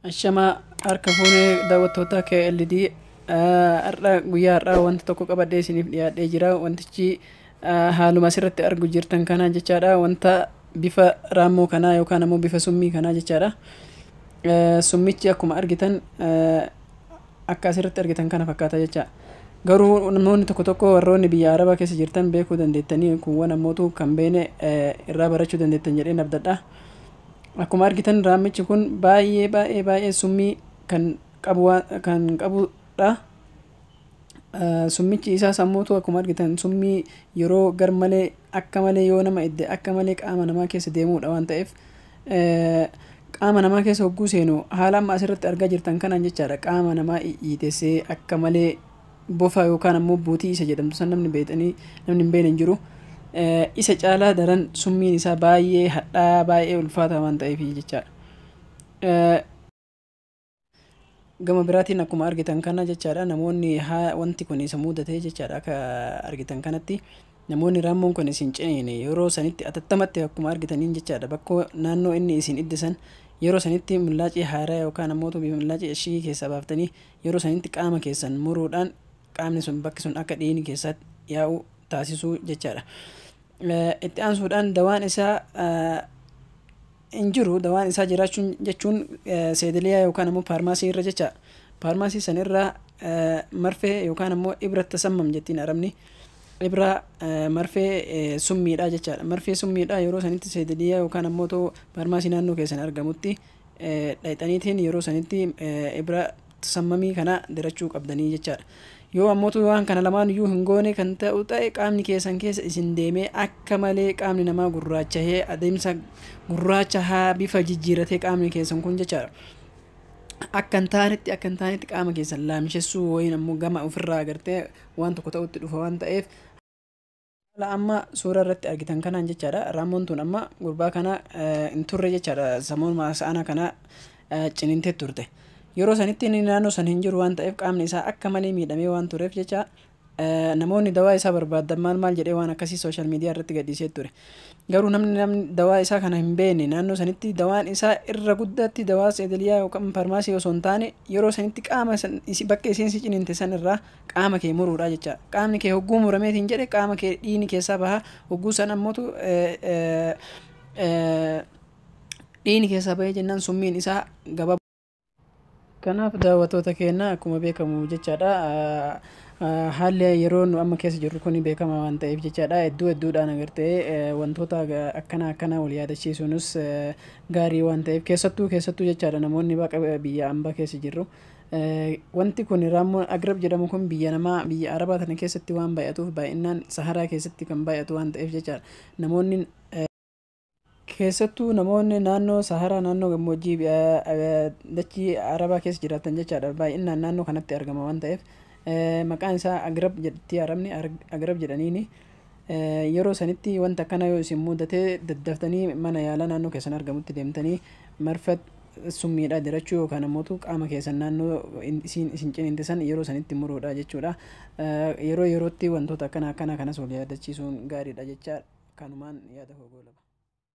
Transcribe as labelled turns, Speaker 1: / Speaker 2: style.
Speaker 1: Ashamaa harka fuunee daawwattoota KLD har'a guyyaa har'aa wanta tokko qabadhee isiniif dhiyaadhee jira wantichi haaluma asirratti argu jirtan kanaan jechaadha wanta bifa raammoo kanaa yookaan ammoo bifa summii kanaa jechaadha. Summichi akkuma argitan akka asirratti argitan kana fakkaata jecha. Garuu namoonni tokko tokko warroonni biyya Arabaa keessa jirtan beekuu dandeettanii kuuwwan ammootu kan beene irraa barachuu dandeettan jedheen abdadha. Akkuma argitan raammichi kun baay'ee baay'ee baay'ee summii kan qabu kan qabudha. summichi isaa sammuutu akkuma argitan summii yeroo gar malee akka malee yoo nama idde akka malee qaama namaa keessa deemuudha waan ta'eef qaama namaa keessa hogguu seenu haala amma asirratti argaa jirtan kanaan jechaadha qaama namaa iitessee akka malee bofa yookaan ammoo buutii isa jedhamtu san namni beektanii namni hin beekne hin jiru. Isa caalaa daran summiin isaa baay'ee hadhaa baay'ee ulfaataa waan ta'eef jechaadha. Gama biraatiin akkuma argitan kana jechaadha namoonni haa wanti kun isa mudatee jechaadha akka argitan kanatti namoonni raammoon kun isin ceene yeroo sanitti atattamatti akkuma argitaniin jechaadha bakkoo naannoo inni isin iddisan yeroo sanitti millaacii haaraa yookaan ammoo tubii millaacii eshigii keessaa baaftanii yeroo sanitti qaama keessan muruudhaan qaamni sun bakki sun akka dhiigni keessatti yaa'u taasisuu jechaadha. Itti aansuudhaan dawaan isaa hin jiru dawaan isaa jiraachuun jechuun seediliyaa yookaan ammoo paarmaasii irra jecha paarmaasii san irraa marfee yookaan ammoo ibra tasammam jettiin arabni ibra marfee summiidha jechaadha marfee summiidha yeroo sanitti seediliyaa yookaan ammoo too paarmaasii naannoo keessan argamutti dhayxaniitiin yeroo sanitti ibra sammamii kana dirachuu qabdanii jechaadha. Yoo ammotu waan kana lamaan iyyuu hin goone kan ta'u ta'e qaamni keessan keessa isin deemee akka malee qaamni namaa gurraachahee adeemsa gurraacha haa bifa jijjiiratee qaamni keessan kun jechaadha. Akka hin taanetti akka hin taanetti qaama keessan laamshessuu wayiin ammoo gama ofirraa agartee waan tokko ta'utti dhufa waan ta'eef Haala amma suuraa irratti argitan kanaan jechaadha. Raammoon tun amma gurbaa kana hin turre jechaadha. Samuuma sa'ana kana ciniintee turte. Yeroo sanitti inni naannoo san hin jiru waan ta'eef qaamni isaa akka malee miidhamee waan tureef jecha namoonni dawaa isaa barbaadan maal maal jedhee waan akkasii sooshaal miidiyaa irratti gadhiisee ture. Garuu namni namni dawaa isaa kana hin beekne naannoo sanitti dawaan isaa irra guddaatti dawaa seedaliyaa yookaan farmaasii osoo hin taane yeroo sanitti qaama bakka isiin si ciniinte san irraa qaama kee muruudha jechaa qaamni kee hogguu muramee siin jedhe qaama kee dhiini keessaa baha hogguu san ammootu dhiini keessaa bahee jennaan summiin isaa gaba kanaaf daawwattoota keenya akkuma beekamu jechaadha haalli yeroo nu amma keessa jirru kun beekama waan ta'eef jechaadha hedduu hedduudhaan agartee wantoota akkana akkana wal yaadachiisuunis gaarii waan ta'eef keessattuu keessattuu jechaadha namoonni baqa biyya ambaa keessa jirru Wanti kun raammoon agrab jedhamu kun biyya namaa biyya arabaa tana keessatti waan baay'atuuf baay'inaan saharaa keessatti kan baay'atu waan ta'eef jecha namoonni keessattuu namoonni naannoo saharaa naannoo gammoojjii dachii arabaa keessa jiraatan jechaadha baay'inaan naannoo kanatti argama waan ta'eef maqaan isaa agrab jedhti arabni agrab jedhaniini yeroo sanitti wanta akkana yoo isin mudatee daddaftanii mana yaalaa naannoo keessan argamutti deemtanii marfat summiidha dirachuu yookaan ammoo qaama keessan naannoo isiin isin ciniinte san yeroo sanitti muruudha jechuudha. Yeroo yerootti wantoota akkana akkana kanas wal yaadachiisuun gaariidha jecha kanumaan yaada koo goolaba.